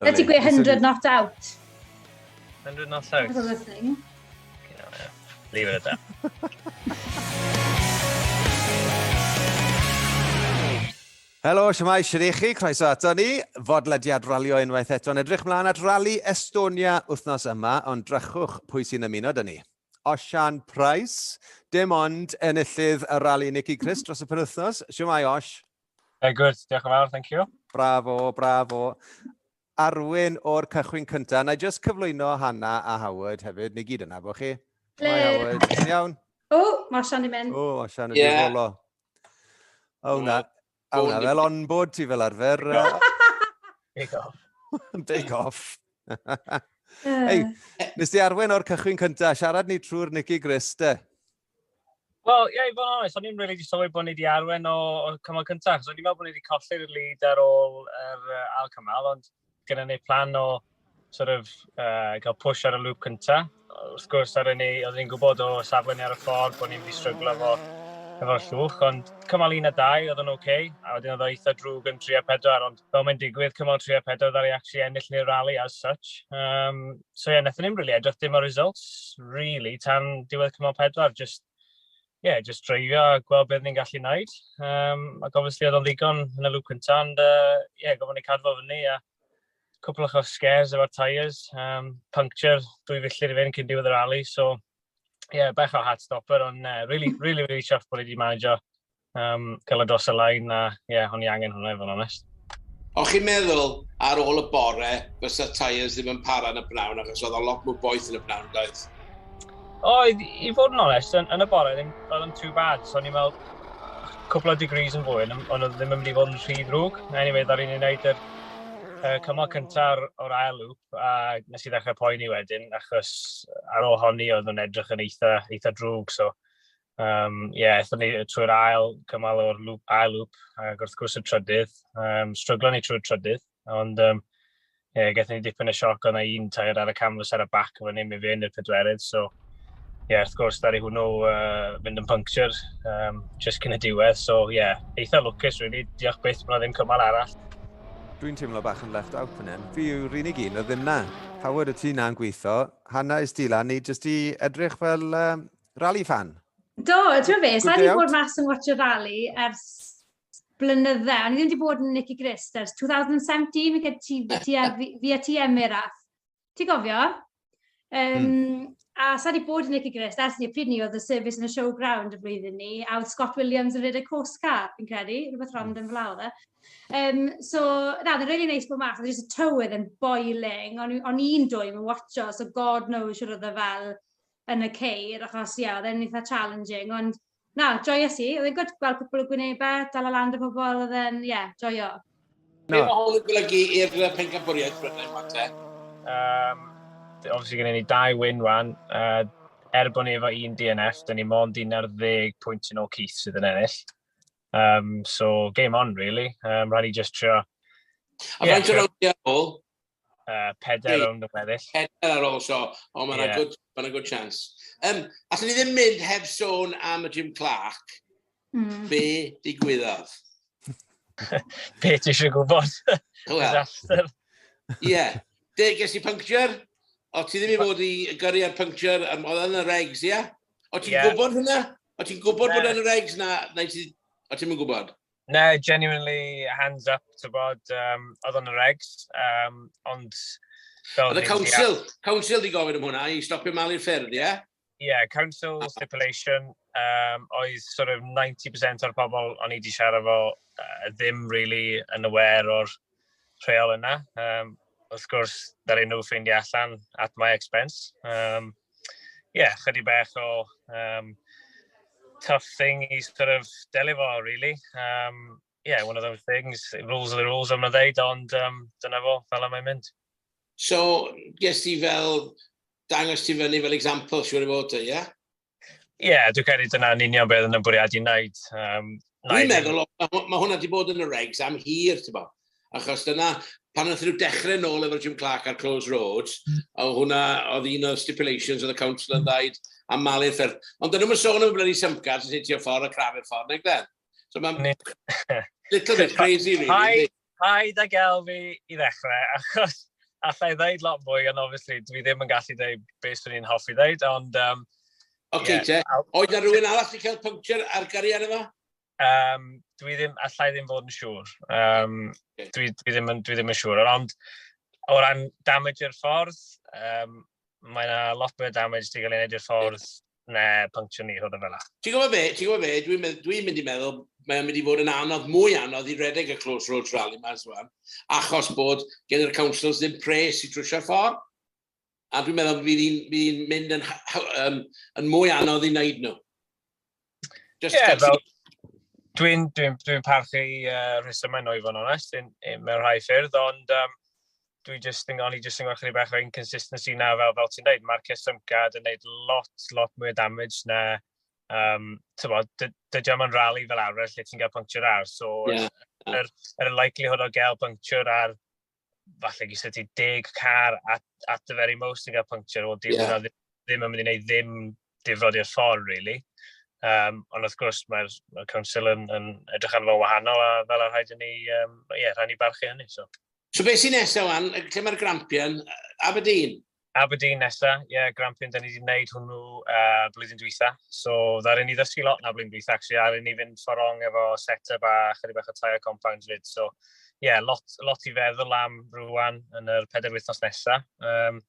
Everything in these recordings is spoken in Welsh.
Let you get 100 not out. 100 not out. That's a thing. Okay, no, yeah. Leave it at that. Helo, siamai, sy'n i chi, croeso ato ni. Fodlediad ralio unwaith eto yn edrych mlaen at Rally Estonia wythnos yma, ond drachwch pwy sy'n ymuno dyn ni. Osian Price, dim ond enillydd y rally Nicky Chris dros y penwythnos. Siamai, Osh. Very good, diolch yn fawr, thank you. Bravo, bravo. Arwyn o'r cychwyn cyntaf. Na i just cyflwyno Hanna a Howard hefyd. Ni gyd yna, bo chi? Ble? Mae Howard. Yn iawn? O, mae Sian i mynd. O, mae Sian yn yeah. difolo. O, na. O, na, fel on bod ti fel arfer. Take off. Take off. Hei, nes di arwen o'r cychwyn cyntaf, siarad ni trwy'r Nicky Grist, de? Wel, ie, yeah, i fod yn onest, o'n i'n rili wedi sylwi bod ni wedi arwen o, o cymal cyntaf, so o'n i'n meddwl bod ni wedi colli'r lead ar ôl yr uh, ail cymal, ond gyda ni plan o sort of, uh, cael push ar y lŵp cyntaf. Wrth gwrs, ar ni, oeddwn ni'n gwybod o safle ni ar y ffordd bod ni'n mynd i stryglo efo, efo llwch, ond cymal un a dau oedd yn oce, okay, a wedyn oedd o eitha drwg yn 3 a 4, ond fel mae'n digwydd, cymal 3 a 4 ddari actually ennill ni'r rally as such. Um, so ie, wnaethon ni'm rili edrych dim ar results rili tan diwedd cymal pedwar, jyst ie, jyst dreifio a gweld beth ni'n gallu wneud. Um, ac obviously oedd o'n ddigon yn y lŵp cyntaf, ond uh, ie, gofyn ni cadw fyny a cwpl o'ch scares efo'r tyres, um, puncture dwy filltir i fynd cyn diwedd yr ali, so ie, yeah, bech o hat stopper, ond uh, really, really, really chuffed bod ni wedi manager um, cael y dros y lain, a ie, yeah, o'n i angen hwnna, i fod yn onest. O'ch chi'n meddwl ar ôl y bore, fysa tyres ddim yn para yn y bnawn, achos oedd o lot mwy boeth yn y bnawn, doedd? Oedd, i fod yn onest, yn, yn y bore, ddim, oedd yn too bad. So, o'n i'n meddwl, cwpl o degrees yn fwy, ond oedd ddim yn mynd i fod yn rhy ddrwg. Anyway, ddar i'n ei wneud yr uh, cymal cyntaf o'r ail lŵp, a nes i ddechrau poeni wedyn, achos ar ôl honni oedd yn edrych yn eitha, eitha drwg. So, Um, yeah, aethon ni trwy'r ail cymal o'r lŵp, ail lŵp, ac wrth gwrs y trydydd. Um, stryglo ni trwy'r trydydd, ond um, yeah, gaethon ni dipyn y sioc ond un tair ar y canfas ar y bac efo ni, mi fe yn y pedwerydd, so yeah, wrth gwrs, ddaru hwnnw uh, fynd yn puncture um, just cyn y diwedd, so yeah, eitha lwcus, really, diolch byth bod ddim cymal arall. Dwi'n teimlo bach yn left out fan hyn. Fi yw'r unig un, o ddim na. Howard, y ti na'n gweithio, Hanna, is ti lan, ni jyst i edrych fel um, Rally fan? Do, ti'n fe, sa'n ni bod mas yn watch y rally ers blynydde. O'n i ddim wedi bod yn Nicky Grist ers 2017, mi gyda ti, ti a, fi a ti Emiraf. Ti'n gofio? Um, mm. A sa'n ni bod yn Nicky Grist ers ni, pryd ni oedd y service yn y showground y flwyddyn ni, a oedd Scott Williams yn rhaid y coast car, fi'n credu, rhywbeth rong yn flaw dda. Um, so, na, oedd yn really nice bod mas, oedd just y tywydd yn boiling, o'n i'n dwy yn watcho, so god knows siwr oedd e fel, yn y ceir, achos ie, yeah, oedd e'n eitha challenging, ond na, joio si, oedd e'n gwrdd gweld cwpl o gwynebau, dal o lan dy pobol, oedd e'n, ie, yeah, joio. No. Be mae hwn yn golygu i'r pencampwriaeth Brynau Mate? Um, obviously gen i ni dau win wan. Uh, er bod ni efo un DNF, dyn ni mond 11 pwynt yn ôl Keith sydd yn ennill. Um, so, game on, really. Um, Rhaid i just trio... A yeah, faint o rowndiau ôl? uh, peder hey, rownd yn weddill. Peder ar ôl so, ond mae'n yeah. good, ma good chance. Um, allwn ni ddim mynd heb sôn am y Jim Clark. Mm. Be digwyddodd? Be ti eisiau gwybod? Disaster. Ie. De, ges i puncture? O, ti ddim i fod i gyrru ar puncture, um, oedd yn y regs, ie? Yeah? O, ti'n yeah. gwybod hynna? O, ti'n gwybod bod yn y regs na, na ti... O, ti'n gwybod? Na, genuinely, hands up, ti'n bod, um, oedd o'n y regs, um, ond... Oedd y council, council di gofyn am hwnna, i stopio malu ffyrdd, ie? Yeah? Ie, yeah, council stipulation, um, oedd sort of 90% o'r pobl o'n i wedi siarad fo uh, ddim really yn aware o'r rheol yna. Um, wrth gwrs, ddaru nhw ffeindio allan at my expense. Ie, um, yeah, chydig bach o um, tough thing i sort of delio fo, really. Um, yeah, one of those things, rules are the rules, am na ddeud, ond um, dyna fo, fel am ei mynd. So, ges ti fel, dangos ti fyny fel example, siwr i fod, ie? Yeah? Ie, yeah, dwi'n credu dyna'n union beth yn y bwriad i'n naid. Um, dwi'n meddwl, mae hwnna wedi bod yn y regs am hir, ti'n bo. Achos dyna, pan oedd nhw dechrau nôl efo'r Jim Clark ar Close Roads, mm. o hwnna oedd un o'r stipulations oedd y council yn dweud am malu'r ffyrdd. Ond dyna nhw'n sôn am y bloody symcars yn hitio ffordd a crafu'r ffordd, neu glen. So mae'n little bit crazy, really. Paid ag elfi i ddechrau, achos allai ddeud lot mwy, ond obviously dwi ddim yn gallu dweud beth swn i'n hoffi ddeud, ond... Um, Oce, okay, yeah. te. Oed na rhywun arall sy'n cael puncture ar gariad efo? Um, dwi ddim, allai ddim fod yn siŵr. Um, okay. dwi, dwi, ddim, dwi ddim yn siŵr, ond o ran damage i'r ffordd, um, mae yna lot mwy o damage sy'n cael ei wneud i'r ffordd Na, puncture ni, rhywbeth fel Ti'n gwybod be, ti'n gwybod be, dwi'n mynd, dwi mynd i meddwl, mae'n mynd i fod yn anodd, mwy anodd i redeg y Close Road Rally ma'n swan, achos bod gen i'r councils ddim pres i trwysio'r ffordd. A dwi'n meddwl bydd hi'n un mynd yn, yn, yn mwy anodd i wneud nhw. Ie, yeah, fel, dwi'n dwi, dwi parchu uh, rhesymau nhw i fod yn onest, mewn rhai ffyrdd, ond um, dwi just yn, o'n i just yn gweld chydig bach o inconsistency na fel, fel ti'n dweud, mae'r Cesymcad yn gwneud lot, lot mwy o damage na, um, tyfod, dydy am yn rally fel arfer lle ti'n cael puncture ar, so yeah. yr, yr likelihood o gael puncture ar, falle gys ti deg car at, at the very most yn cael puncture, o dim, yeah. ddim, ddim yn mynd i wneud ddim difrod i'r ffordd, really. Um, ond wrth gwrs, mae'r mae Council yn, yn edrych arno wahanol a fel a rhaid i ni, um, yeah, rhaid ni barchu hynny. So. So beth sy'n nesaf wan? Lle mae'r Grampian? Aberdeen? Aberdeen nesa, ie, yeah, Grampian, da ni wedi gwneud hwnnw uh, blwyddyn dwytha. So, dda'r un i ddysgu lot na blwyddyn dwytha, actually, ar un i fynd fforong efo set-up a chydig bach o tair compounds fyd. So, ie, yeah, lot, lot i feddwl am rwan yn yr pedair wythnos nesa. Um,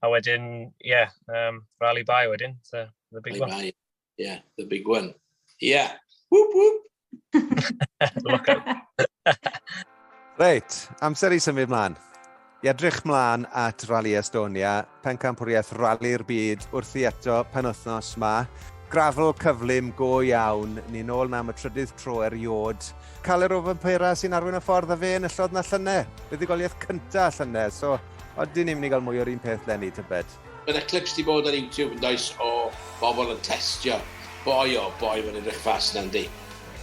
a wedyn, ie, yeah, um, rally by wedyn, so, the big rally one. By. Yeah, the big one. Yeah. Whoop, whoop. Reit, amser i symud mlaen. I edrych mlaen at Rally Estonia, pencampwriaeth Rally'r Byd wrthi eto pen wythnos ma. Grafl cyflym go iawn, ni'n ôl na am y trydydd tro eriod. Caler o Vampera sy'n arwyn y ffordd a fe yn yllod na llynau. Buddugoliaeth cyntaf llynau, so oedden ni'n mynd i gael mwy o'r un peth lenni, tybed? Bydde clips di bod ar YouTube yn does o bobl yn testio. Boi o boi mae'n edrych fast na yndi?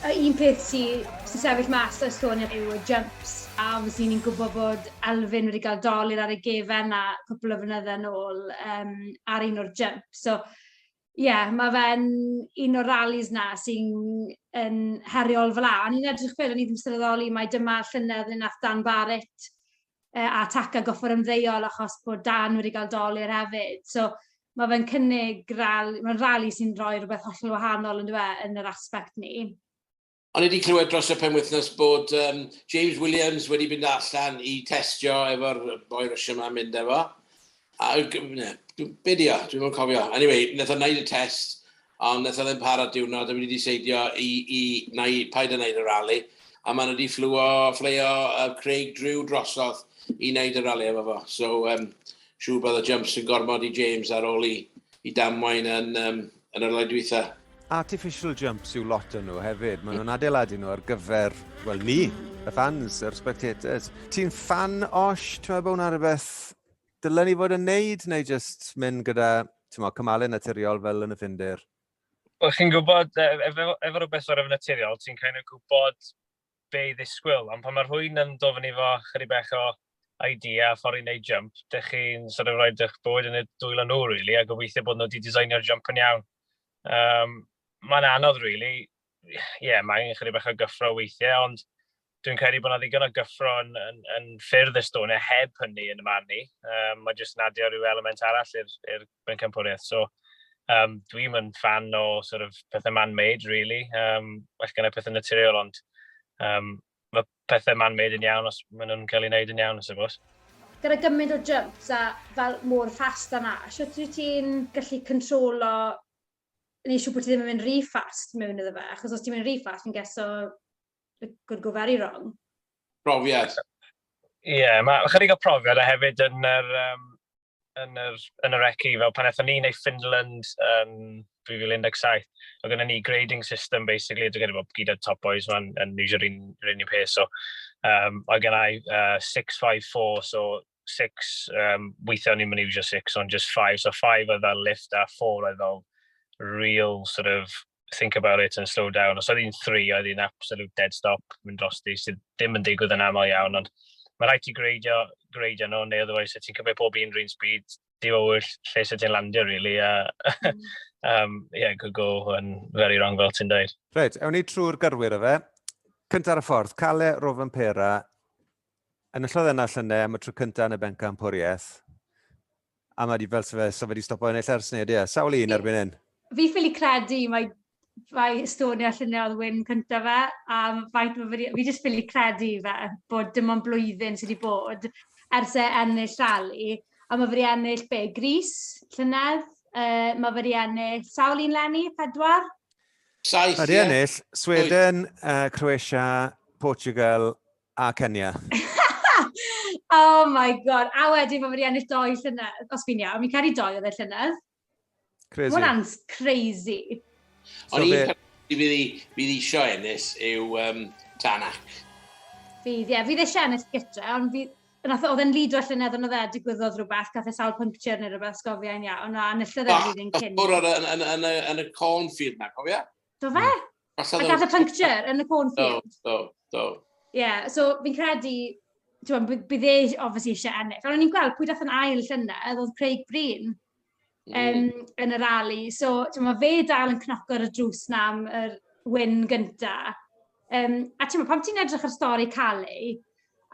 Y un peth sy sy'n sefyll mas o Estonia yw y jumps a obviously ni'n gwybod bod Elfyn wedi cael dolur ar ei gefen na cwpl o flynydde nôl um, ar un o'r jumps. So Ie, mae fe'n un o'r rallies 'na sy'n yn heriol fel 'na. O'n i'n edrych fel, o'n i ddim sylweddoli mai dyma llynedd le wnaeth Dan Barrett yy a Taka gorfod ymddeol achos bod Dan wedi cael dolur hefyd. So mae fe'n cynnig rali... mae'n rali sy'n rhoi rhywbeth hollol wahanol yndyw e, yn yr aspect 'ny. O'n i 'di clywed dros y penwythnos bod um, James Williams wedi mynd allan i testio efo'r boi Russia ma'n mynd efo. A, ne, be di o? Dwi'n mwyn cofio. Anyway, wnaeth o'n neud y test, ond wnaeth o ddim para diwrnod, a wedi diseidio i, i na i paid yn neud y rali. A maen nhw wedi fflwio, fflio uh, Craig Drew drosodd i wneud y rali efo fo. So, um, siŵr bod y jumps yn gormod i James ar ôl i, i damwain yn, um, yn yr oedwytha. Artificial jumps yw lot o'n nhw hefyd. Maen nhw'n adeiladu nhw ar gyfer, wel ni, y fans, yr spectators. Ti'n fan osh, ti'n meddwl bod hwnna rhywbeth dylen ni fod yn neud, neu just mynd gyda cymalau naturiol fel yn y ffindir? Wel, chi'n gwybod, efo, efo rhywbeth o'r efo naturiol, ti'n kind of gwybod be i ddisgwyl, ond pan mae rhywun yn dod fyny efo chydig bach o idea a ffordd i wneud jump, dych chi'n sort of rhoid eich bywyd yn y dwylo nhw rili, a gobeithio bod nhw wedi designio'r jump yn iawn. Um, mae'n anodd rili, ie, yeah, mae angen chydig bach o gyffro weithiau, ond dwi'n credu bod yna ddigon o gyffro yn, yn, yn ffyrdd Estonia heb hynny yn y man ni. Um, mae jyst yn adio rhyw element arall i'r bencampwriaeth. So um, dwi'm yn fan o sort of pethau man-made, really. Um, well, gyda pethau naturiol, ond um, mae pethau man-made yn iawn os maen nhw'n cael ei wneud yn iawn, I suppose. Gyda gymaint o jumps a fel mor fast yna, sut wyt ti'n gallu controlo neu siw bod ti ddim yn mynd rhy fast mewn iddo fe, achos os ti'n mynd rhy fast, fi'n geso it could go very wrong. Profiad. Ie, yeah, mae chydig o profiad a hefyd yn yr, um, yn yr, yn yr ECI, fel pan eithon ni neu Finland yn 2017, oedd gyda ni grading system, basically, dwi'n credu bod gyda top boys ma'n yn iwsio rhywun rhywun i'r peth, so, um, oedd gen i uh, 654, so 6, um, weithiau ni'n mynd iwsio 6, ond just 5, so 5 oedd fel lift a 4 oedd fel real sort of think about it and slow down. Os oedd hi'n 3, oedd hi'n absolute dead stop mynd dros di, sydd ddim yn digwydd yn aml iawn, ond mae rhaid ti greidio, greidio nhw, neu otherwise sut ti'n cymryd pob un rhywun speed, di o wyll lle sut ti'n landio, really. A, mm. um, yeah, could go yn very wrong fel ti'n dweud. Reit, ewn ni trwy'r gyrwyr o fe. Cynta'r y ffordd, Cale, Rofen Pera, Enillodd yna llynedd am y tro cyntaf yn y bencampwriaeth. A mae wedi fel sef so wedi stopo yn eich ers nid, ie. Sawl un erbyn hyn? Fi ffili credu, mae, mae Estonia llynedd oedd wyn cyntaf fe, a faint mae wedi, fi jyst ffili credu fe, bod dim ond blwyddyn sydd wedi bod ers e ennill rali. A mae wedi ennill be, Gris llynedd, uh, mae wedi ennill sawl un lenni, pedwar? Saith, Mae wedi ennill Sweden, uh, Croatia, Portugal, A Kenya. oh my god. A wedyn mae wedi ennill doi llynedd, os fi'n iawn. Mi'n cael ei doi oedd e llynedd. Crazy. Mae hwnna'n crazy. Ond so un peth fydd eisiau ennill yw um, Tanak. Fydd, ie. Yeah. Fydd eisiau ennill gytre, ond fydd... Oedd e'n lido llynedd ond oedd e digwyddodd rhywbeth, gath e sawl puncture neu rhywbeth, sgofiau'n iawn, a enillodd e'r flwyddyn cyn. Oedd yn y cornfield na, cofio? Do fe? Hmm. A gath y puncture yn y cornfield. Do, do, do. Ie, yeah, so fi'n credu, ti'n bod, bydd e obviously eisiau ennill. Ond o'n i'n gweld pwy dath yn ail llynedd oedd Craig Breen mm. um, yn y rali. So, ti'n bod, fe dal yn cnoco'r y drws na am yr wyn gynta. Um, a ti'n bod, pam ti'n edrych ar stori Cali,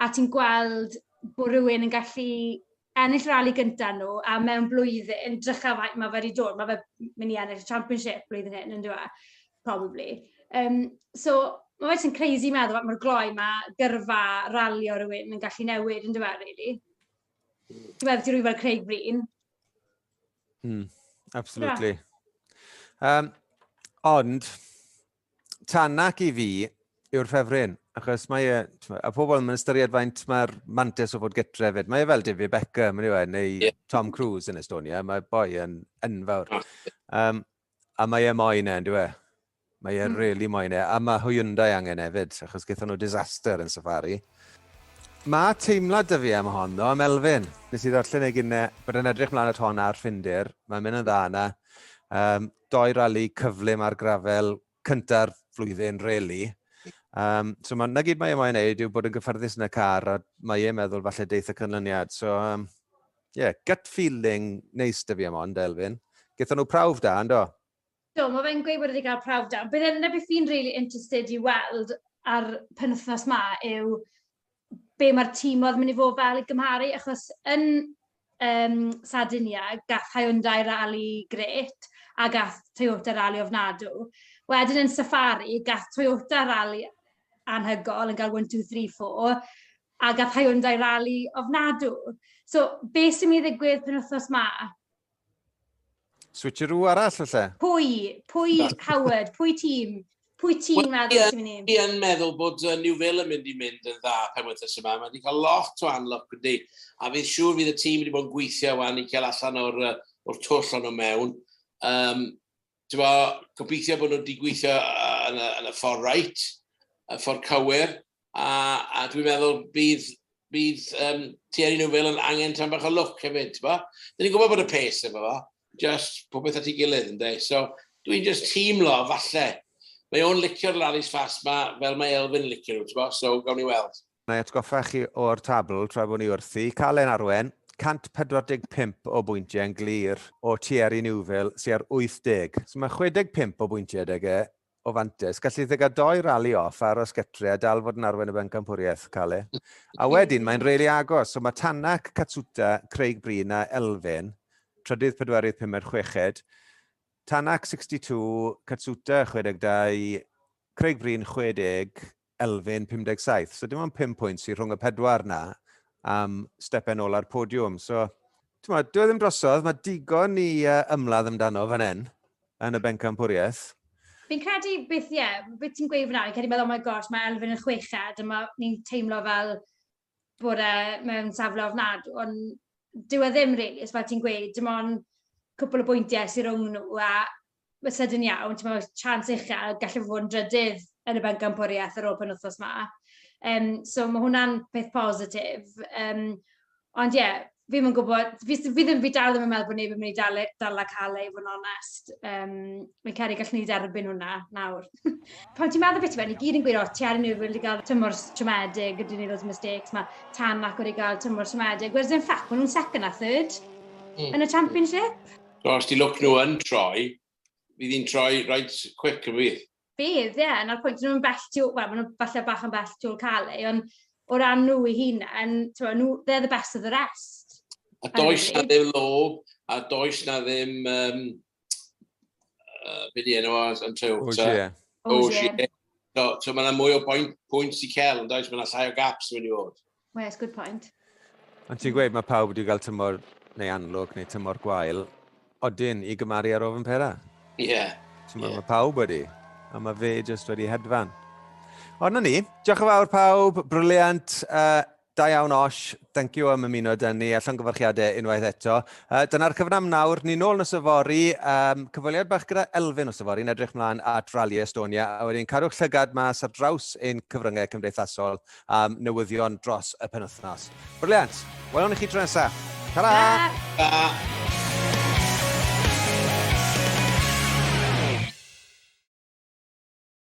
a ti'n gweld bod rhywun yn gallu ennill rali gynta nhw a mewn blwyddyn, drycha faint ma' fe 'di dod ma' fe m- myn' i ennill y championship blwyddyn hyn on'd yw e? Probably. Yym so ma' fe jys yn crazy meddwl faint mor gloi ma' gyrfa ralio rywun yn gallu newid on'd yw e rili? Ti weld rywun fel Craig Breen. Hmm, absolutely. Yym, ond, Tanak i fi yw'r ffefryn, achos mae e, a pobl yn ystyried faint mae'r mantis o fod gytre fyd. Mae e fel David Beckham, yn yw e, neu yeah. Tom Cruise yn Estonia. Mae boi yn enfawr. Um, a mae e moyn e, ynddo e? Mae e mm. really moyn e. A mae Hyundai angen hefyd, achos gyda nhw disaster yn safari. Mae teimlad dy fi am hon, ddo, am Elfyn. Nes i ddarllen ei gynnau, bod yn edrych mlaen at hon ar Ffindir. Mae'n mynd yn dda yna. Um, doi rali cyflym ar grafel cynta'r flwyddyn, reli. Um, so ma, na gyd mae e moyn neud yw bod yn gyffyrddus yn y car a mae e'n meddwl falle deith y cynlyniad. So, um, yeah, gut feeling neis dy fi am ond, Elfyn. Gyda nhw prawf da, ynddo? Do, mae fe'n gweud bod wedi cael prawf da. Bydd yna beth fi'n really interested i weld ar penwthnos ma yw be mae'r tîm oedd mynd i fod fel i gymharu, achos yn um, Sardinia, gath Hyundai rali gret a gath Toyota rali ofnadw. Wedyn yn Safari, gath Toyota rali anhygol yn cael 1, 2, 3, 4, a gath Hyundai rali ofnadw. So, be sy'n mynd i ddigwydd pen wythnos ma? Switcheroo arall y lle. Pwy? Pwy Howard? Pwy tîm? Pwy ti'n well, meddwl yeah, sy'n mynd i? Fi yn meddwl bod uh, New Villa mynd i mynd yn dda pen wythnos yma. Mae wedi cael lot o anlwc ydy. A fi'n siŵr fydd y tîm wedi bod yn gweithio wan i cael allan o'r, uh, or twll o'n mewn. Um, Tywa, gobeithio bod nhw'n digweithio yn y, yn y ffordd rhaid, y ffordd cywir, a, a dwi'n meddwl bydd, bydd um, Thierry Newville yn angen tam bach o lwc hefyd. Dyn ni'n gwybod bod y pes efo fo, just popeth at ei gilydd ynddo. So dwi'n just teimlo, falle, mae o'n licio'r rallies fast ma, fel mae Elfyn yn licio nhw, so gawn ni weld. Wna i atgoffa chi o'r tabl tra bod ni wrthi. Calen Arwen, 145 o bwyntiau yn glir o Thierry Neuville sy ar 80. So mae 65 o bwyntiau 'da e o fantais. Galli di gael doi rali off, aros gytre a dal fod yn arwen y bencampwriaeth, Cale. A wedyn mae'n rili agos. So mae Tanak, Katsuta, Craig Breen a Elfyn, trydydd, pedwerydd, pumed, chweched. Tanak 62, Katsuta 62, Craig Breen 60, elfen 57. So dim ond 5 pwynt sydd rhwng y pedwar na am stepen ola'r podiwm. So, ti'n meddwl, dwi e ddim drosodd, mae digon ni uh, ymladd amdano fan hyn, yn y bencampwriaeth. Fi'n credu beth, ie, yeah, beth ti'n gweud fyna, fi'n credu meddwl, oh my gosh, mae Elfyn yn chweched, a mae ni'n teimlo fel, bod e mewn safle ofnadw, ond dyw e ddim rili, really, fel ti'n gweud, dim ond cwpl o bwyntiau sy'n rhwng nhw, a mae sed yn iawn, ti'n meddwl, chance uchel, gallu fod yn drydydd yn y bencampwriaeth ar ôl pen wythnos ma. Um, so mae hwnna'n peth positif. Um, ond ie, yeah, fi ddim yn gwybod, fi s- fi ddim, fi dal ddim yn meddwl bod neb yn mynd i dal e- dala cael e i fod yn onest. Yym, fi'n credu gallwn ni dderbyn hwnna nawr. Pan ti'n meddwl beth yw e, ni gyd yn gweud, o, ti ar y newydd wedi cael tymor s- siomedig, ydyn ni loads o mistakes, mae tan ac wedi cael tymor siomedig. Whereas in fact, maen nhw'n second a third Mm. yn y championship. Os di lwc nhw yn troi, fydd hi'n troi right quick yn fydd. Bydd, ie, 'na'r pwynt. Dyn nhw'm bell tu ôl... wel, maen nhw falle bach yn bell tu ôl Calais, ond o ran nhw eu hunain, t'mo' nhw, they're the best of the rest. A does 'na ddim lob, a does 'na ddim um, uh, be' 'di enw o yn Toyota? Ogier. Ogier. So so ma' 'na mwy o boen- pwynt i cel yndoes, ma' 'na llai o gaps mewn i fod. Yes, good point. Ond ti'n gweud mae pawb wedi cael tymor neu anlwg neu tymor gwael, odyn i gymaru ar ofyn pera. Ie. Yeah. Ti'n yeah. mae pawb wedi, a mae fe jyst wedi hedfan. Ond na ni, diolch yn fawr pawb, briliant, uh, da iawn Osh, thank you am ymuno dyn ni, allan gyfarchiadau unwaith eto. Uh, Dyna'r cyfnam nawr, ni'n ôl nos yfori, um, cyfweliad bach gyda Elfyn nos yfori, yn edrych mlaen at Rally Estonia, a wedyn cadwch llygad mas ar draws ein cyfryngau cymdeithasol. um, newyddion dros y penwthnos. Briliant! Welwn i chi tro nesaf. Ta-ra! Ta! Ta!